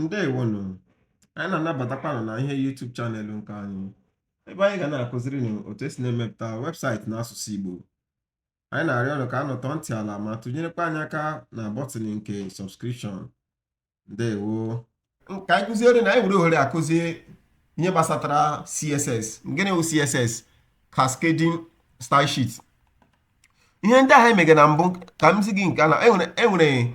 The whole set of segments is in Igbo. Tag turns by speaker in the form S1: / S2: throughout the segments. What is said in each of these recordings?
S1: ndewonụ anyị na-anabatakwa unu na ihe YouTube channel nke anyị ebe anyị ga na-akụziri unu otu esi na-emepụta website n'asụsụ Igbo anyị na-arịọ unu ka unu tọọ ntị n'ala ma tụnyerekwa anyị aka na button nke subscription ndewo ka anyị kụziere na anyị were ohere a kụzie ihe gbasatara CSS gịnị bụ CSS cascading style sheet ihe ndị ahụ emege na mbụ ka m zi gị nke na enwere e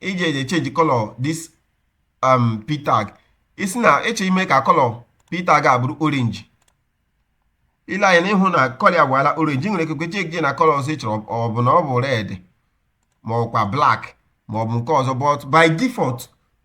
S1: iji eji echenji color this um p tag ị sị na ị chọ ime ka color p tag a bụrụ orange i lee anya ị hụ na color ya gbaala orange nwere ikekwe chenji na color ọzọ ị chọrọ ọ bụ na ọ bụ red ma ọkwa black ma ọ bụ nke ọzọ but by default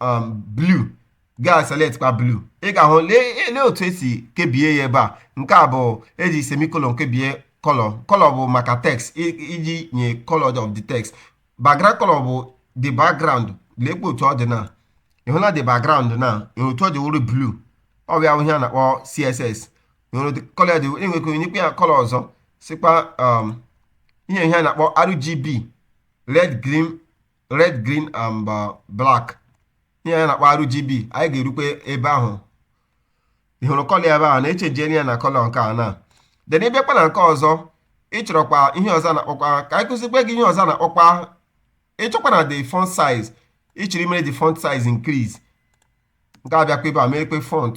S1: um blue gaa select kwa blue ị ga-ahụ lee lee otu esi kebie ya ebe a nke a bụ e ji semicolon kebie color color bụ maka text i- iji nye color of the text background color bụ the background leekwa otu ọ dị na ị hụla the background na ị hụ otu ọ dị wụrụ blue ọ bụ ya bụ ihe a na-akpọ css ị hụrụ the color dị ị nwere ike nyekwa ya color ọzọ sịkwa um, ihe ihe a na-akpọ rgb red green red green and uh, black ihe anyị na-akpọ RGB anyị ga-erukwe ebe ahụ ị hụrụ color ebe ahụ na-echenjiere ya na color nke a na then ị bịakwa na nke ọzọ ị chọrọkwa ihe ọzọ a na-akpọkwa ka anyị kụzikwe gị ihe ọzọ a na-akpọkwa ị chọkwa na the font size ị chọrọ imere the font size increase m ga-abịakwa ebe a meekwe font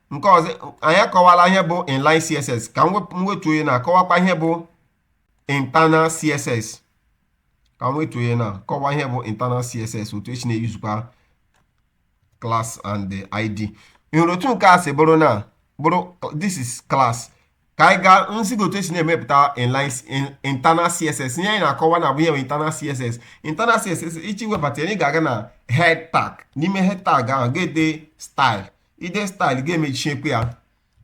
S1: nke ọzọ anyị akọwala ihe bụ inline css ka m wep- m wetuo ya na akọwakwa ihe bụ internal css ka m wetuo ya na kọwa ihe bụ internal css otu esi na-eyuzukwa class and the id ị hụrụ otu nke a si bụrụ na bụrụ this is class ka anyị gaa m zi gị otu esi na-emepụta inline in- internal css ihe anyị na-akọwa na bụ ihe bụ internal css internal css iji webata ya, ị ga-aga na head tag n'ime head tag ahụ ga-ede style i dee style ga-emechiekwa ya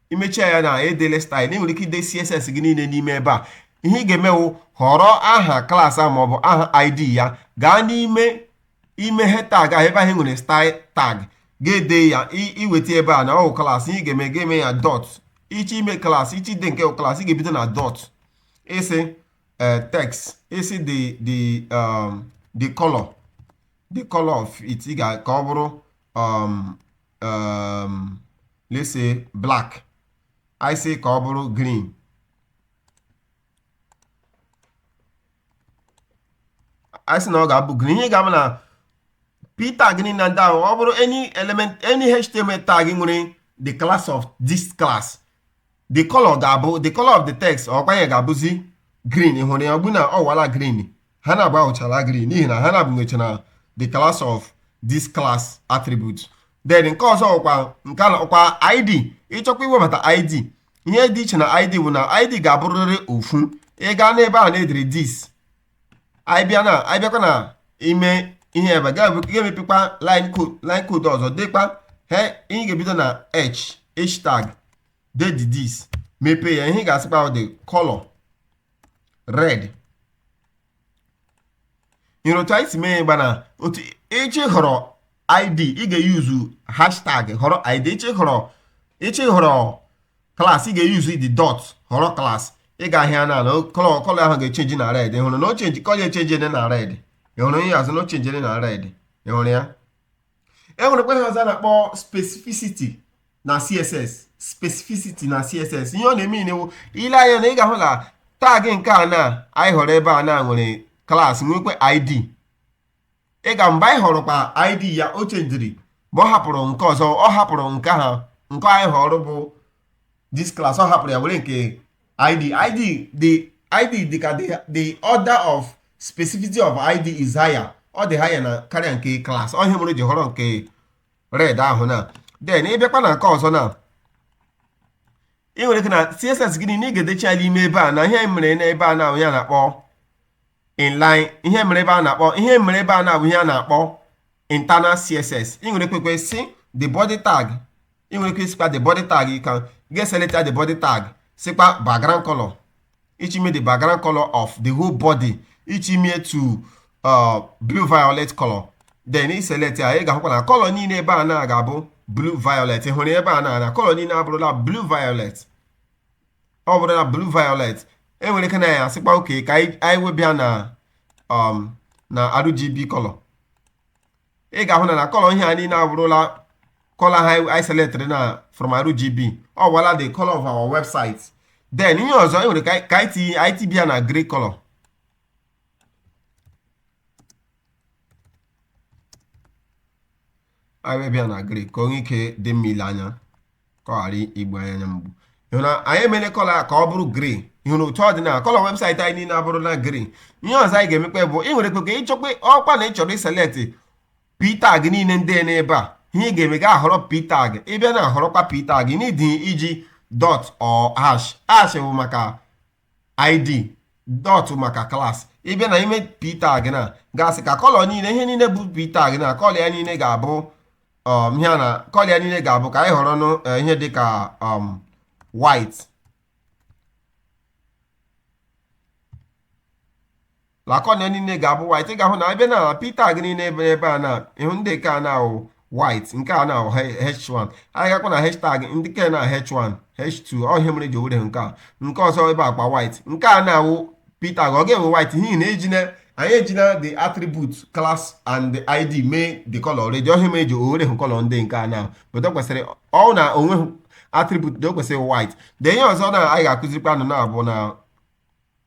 S1: i mechie ya na edele style ị nwere ike ide css gị niile n'ime ebe a ihe ị ga-eme wụ họrọ aha class ahụ maọbụ aha id ya gaa n'ime ime head tag ahụ ebe ahụ nwere style tag ga-ede ya iweta ebe a na ọ wụ class ị ga-eme ga-eme ya dot ị chọ ime class ị chọ ide nke class ị ga-ebido na dot ị sị eh, text ị sị the the um, the color the color of it ị ga ka ọ bụrụ um, um, let's say black anyị sị ka ọ bụrụ green anyị sị na ọ ga-abụ green ihe ga-abụ na p tag niile na ndị ahụ ọ bụrụ any element any html tag nwere the class of this class the color ga-abụ the color of the text ọkwa ya ga-abụzi green ị hụrụ ya ugbu a na ọ wụala green ha n'abụọ abụchala green n'ihi na ha n'abụọ nwechara the class of this class attribute then nke ọzọ ọkwa nke a ọkwa id ị chọkwa iwebata id ihe dị iche na id bụ na id ga-abụrịrị ofu ị gaa n'ebe a na-edere this abịa na abịakwa na ime ihe ebe ga-emepekwa line code line code ọzọ dịkwa iche ị ga-ebido na hashtag dee this mepee ya ihe ị ga-asịkwa ahụ dị color red ị hụrụ otu anyị si mee ya bụ na ị chọọ ịhọrọ id ị ga-eyuzu hashtag họrọ id ị chọọ ịhọrọ ị chọọ ịhọrọ klaasị ị ga-eyuzu the dot họrọ klaasị ị ga-ahụ ya na kọlọ kọlọ ahụ ga-echenji na red ị hụrụ na o chenji kọlọ echenjila na red ị hụrụ ya zi na o chenjiri na red ị hụrụ ya e nwerekwa ihe ọzọ a na-akpọ specificity na css specificity na css ihe ọ na-eme inewo i lee anya na ị ga-ahụ na tag nke a na anyị họrọ ebe a na nwere klaasị nwekwa id ị ga mgbe anyị họrọ kwa id ya o chenjiri ma ọ hapụrụ nke ọzọ ọ hapụrụ nke a nke anyị họrọ bụ this class ọ hapụrụ ya were nke ID ID the ID dị ka the the order of specificity of ID is higher ọ dị higher na karịa nke class ọ ihe mere o ji họrọ nke red ahụ na then ị bịakwa na nke ọzọ na ị nwere ike na css gị niile ị ga-edecha ya n'ime ebe a na ihe mere n'ebe a na bụ ihe a na-akpọ inline ihe mere ebe a na-akpọ ihe mere ebe a na bụ ihe a na-akpọ internal css ị nwere ikekwa sị the body tag ị nwere ike ịsịkwa the body tag ka anyị select the body tag sịkwa background color ị chọọ ime the background color of the whole body ị chọọ ime to uh, blue violet color then ị select ya ị ga-ahụkwa na color niile ebe a na ga-abụ blue violet ị hụrụ ebe a na na color niile abụrụla blue violet ọ bụrụla blue violet e nwere ike na anyị asịkwa okay ka anyị webe ya na um, na RGB color ị ga-ahụ na na kọlọ ihe a niile abụrụla kọlọ a anyị seletịrị na from RGB ọ wụala the color of our website then ihe ọzọ ị nwere ike itibe ya na grey color anyị webe ya na grey ka o nwee ike dị mma ile anya ka ọ ghara igbu anyị anya mgbu na anyị emela kọlọ ka ọ bụrụ green ị hụrụ otu ọ dị na kọlọ webụsaịtị anyị niile abụrụla green ihe ọzọ anyị ga-emekwa bụ ị nwere ikekwa ịchọkwa ọkwa na ị chọrọ iseleti p tag niile dị n'ebe a ihe ị ga-eme ị ga-ahọrọ p tag ị bịa na ahọrọkwa p tag na ị dịghị eji dọt or hash hash bụ maka id dot maka class ị bịa na ime p tag na ị ga-asị ka kọlọ niile ihe niile bụ p tag na kọlọ ya niile ga-abụ um, ihe na kọlọ ya niile ga-abụ ka anyị họrọ nụ eh, ihe dịka um, white kọlọ ya niile ga-abụ white ị ga-ahụ na a bịa na p tag niile ebe ebe a na ị hụ ndị nke a na-awụ white nke a na-awụ h1 anyị gakwa na h tag ndị nke a na h1 h2 ọ ya mere ị ji were nke a nke ọzọ ebe akwa white nke a na-awụ p tag ọ ga-enwe white n'ihi na ejina anyị ejina the attribute class and id mee the color already ọ ya mere ị ji were hụ color ndị nke a na pụta kwesịrị ọ na onwe attribute na o kwesịrị white then ihe ọzọ na anyị ga-akụzirikwa unu na-abụ na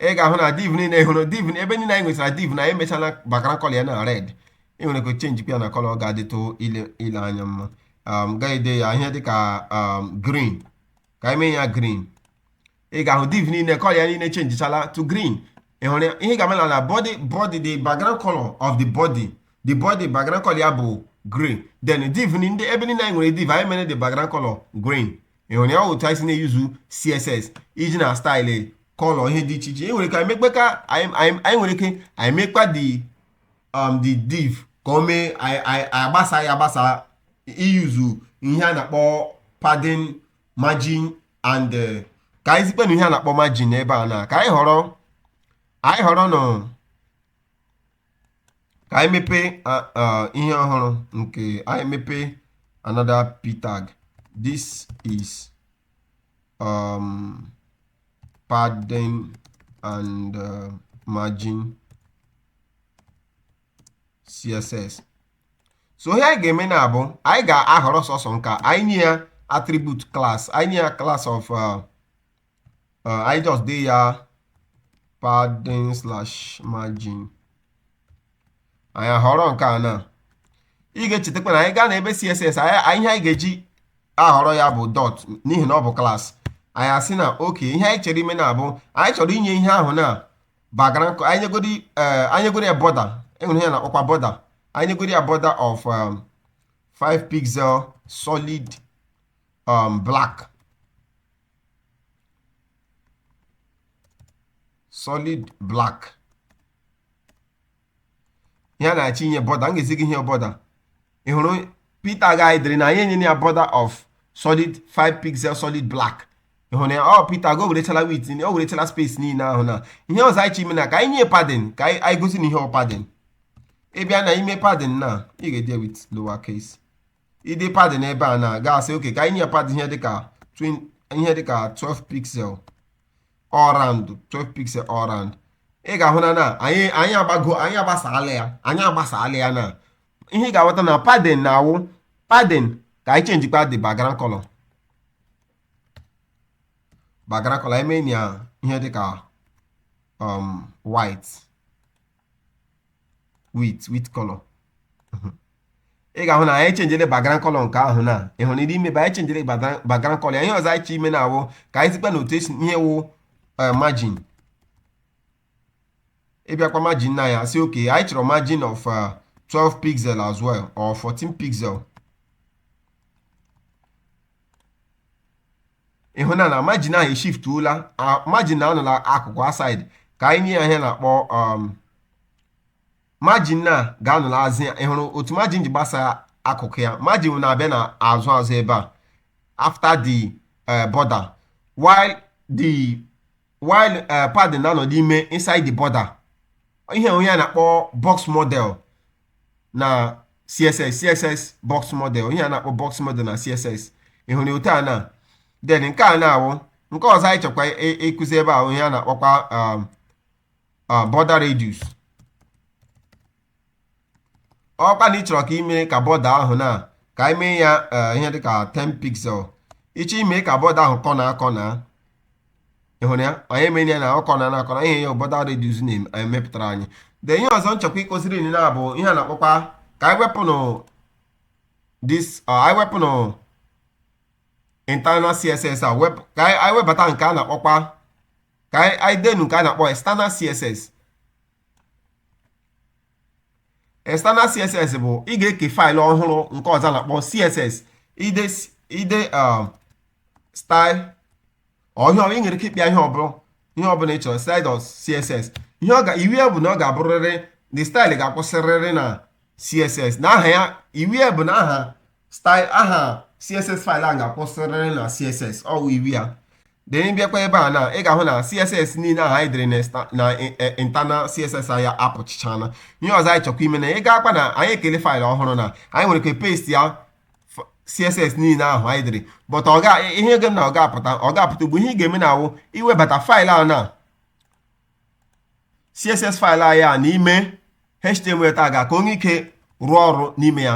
S1: ị ga-ahụ na div niile hụrụ div ebe niile anyị nwetara div na emechala background kọlọ ya na red ị nwere ike chenji ya na kọlọ ọ ga-adịtụ ile ile anya mma um, ị ga-ede ya ihe dịka um, green ka anyị mee ya green ị ga-ahụ div niile kọlọ ya niile chenjichala to green ị hụrụ ya ihe ga-eme na body body the background color of the body the body background color ya bụ green then div ni- ndị ebe niile anyị nwere div anyị mere the background color green ị hụrụ ya otu anyị si na-eyuzu css iji na style color ihe dị iche iche anyị nwere ike mekpa ka anyị nwere ike anyị mekpa the um, the div ka o mee agbasa ya agbasa iyuzu ihe a na-akpọ padding margin and eh, ka anyị zikpa unu ihe a na-akpọ margin ebe a na ka anyị họrọ anyị họrọ nụ ka anyị mepee a- a- ihe ọhụrụ nke anyị mepee another p tag this is um, padding and uh, margin css so ihe anyị ga-eme na-abụ anyị ga-ahọrọ sọsọ nke a anyị nye ya attribute class anyị nye ya class of uh, uh, anyị just dee ya padding slash margin anyị ahọrọ nke a na ị ga-echetakwa na anyị gaa na ebe css anyị anyị- ihe anyị ga-eji ahọrọ ya bụ dot n'ihi na ọ bụ class anyị asị na ok ihe anyị chọrọ ime na-abụ anyị chọrọ inye ihe ahụ na background color anyị nyegodi eh, anyị nyegodi ya border e nwere ihe a na-akpọkwa border anyị nyegodi ya border of um, 5 pixel solid um, black solid black ihe a na-achọ inye border m ga-ezi gị ihe border ị hụrụ p tag already na anyị enyere ya border of solid 5 pixel solid black ị hụrụ ya ọ oh, p tag o werechala width o werechala space niile ahụ na ihe ọzọ anyị chọ ime na ka anyị nye padding ka anyị gosi unu ihe ọ padding ị bịa na ime padding na ị ga-ede ya with lower case ide padding n'ebe a na ị ga-asị okay ka anyị nye padding ihe dịka twin- ihe dịka 12 pixel all round 12 pixel all round ị ga-ahụ na na anyị anyị agbago anyị agbasaala ya anyị agbasaala ya na ihe ị ga-aghọta na padding na-awụ padding ka anyị chenjikwa the background color background color emee ya ihe dịka um, white white white color ị ga-ahụ na anyị chenjere background color nke ahụ na ị hụrụ n'ime ebe anyị chenjere background color ya ihe ọzọ anyị chọ ime na-awụ ka anyị zikwa na otu e si ihe wụ margin ị bịakwa margin na ya sị okay anyị chọrọ margin of 12 pixel as well or 14 pixel ị hụ na na margin ahụ eshiftuola margin na-anọ n'akụkụ aside ka anyị nye ya ihe a na-akpọ um, margin na ga-anọ n'azụ ya ị hụrụ otu margin ji gbasa akụkụ ya margin na-abịa n'azụ azụ ebe a after the uh, border while the while eh, padding na-anọ n'ime inside the border ihe wụ ihe a na-akpọ box model na css css box model ihe a na-akpọ box model na css ị hụrụ otu a na then nke a na-awụ nke ọzọ anyị chọkwa ịkụzi ebe a wụ ihe a na-akpọkwa um, uh, border radius ọkwa na ị chọrọ ka ime ka border ahụ na ka anyị mee ya eh, ihe dịka 10 pixel ị chọ ime ka border ahụ kọnaa akọna ị hụrụ ya anyị emere ya na ọ kọna akọna ihe a border radius na-emepụtara anyị then ihe ọzọ m chọkwa ịkụziri unu na-abụ ihe a na-akpọkwa ka anyị wepụnụ this eh, anyị wepụnụ internal css a wepụ ka anyị anyị webata nke a na-akpọkwa ka anyị anyị denụ nke a na-akpọ external css external css bụ ị ga-eke faịlụ ọhụrụ nke ọzọ a na-akpọ css ide ide um, style or ị nwere ike ịkpọ ya ihe ọbụla ihe ọbụla ị chọrọ style dot css ihe ọ ga iwu ya bụ na ọ ga-abụrịrị the style ga-akwụsịrịrị na css na aha ya iwu ya bụ na aha style aha css faịlụ a ga-akwụsịrịrị na css ọ wụ iwu ya Then ị bịakwa ebe a na ị ga-ahụ na CSS niile ahụ anyị dere na exta- na i- e- internal CSS anyị apụchichana ihe ọzọ anyị chọkwa ime na ị ga-akwa na anyị ekele faịlụ ọhụrụ na anyị nwere ike paste ya f- CSS niile ahụ anyị dere but ọ ga ihe ga-eme na ọ ga-apụta ọ ga-apụta ugbu a ihe ị ga-eme na-awụ iwebata faịlụ ahụ na css file anyị a n'ime html tag a ka o nwee ike rụọ ọrụ n'ime ya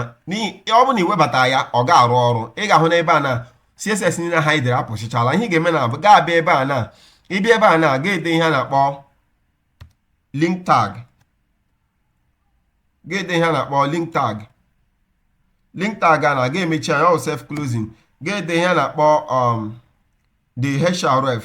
S1: ọ bụ na i webata ya ọ ga-arụ ọrụ ị ga-ahụ n'ebe a na css niile ahụ i dere apụchichala ihe ị ga-eme na ị ga-abịa ebe a na ị bịa ebe a na ga-ede ihe a na-akpọ link tag ga-ede ihe a na-akpọ link tag link tag a na ga-emechi ya ọ self closing ga-ede ihe a na-akpọ um, the href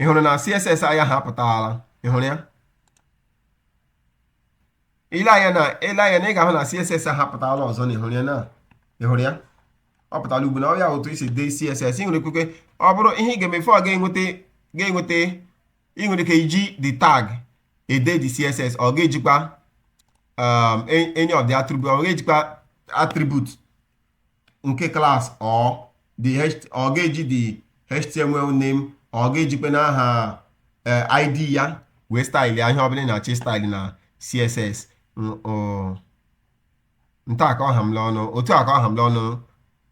S1: ị hụrụ na css anyị ahụ apụtala ị hụrụ ya i lee anya na i lee anya na ị ga-ahụ na css ahụ apụtala ọzọ na ị hụrụ ya na ị hụrụ ya ọ pụtala ugbu na ọ ya otu e si ede css ị nwere ike ọ bụrụ ihe ị ga-eme before ị ga-enweta ga-enweta ị nwere ike iji the tag ede the css or ị ga-ejikwa um, any of the attribute or ị ga-ejikwa attribute nke class or the or ị ga-eji the html name or ị ga-ejikwanụ aha eh, id ya wee style ihe ọbụla ị na-achọ ị style na css n'otu a ka ọ ha m n'ọnụ otu a ka ọ ha m n'ọnụ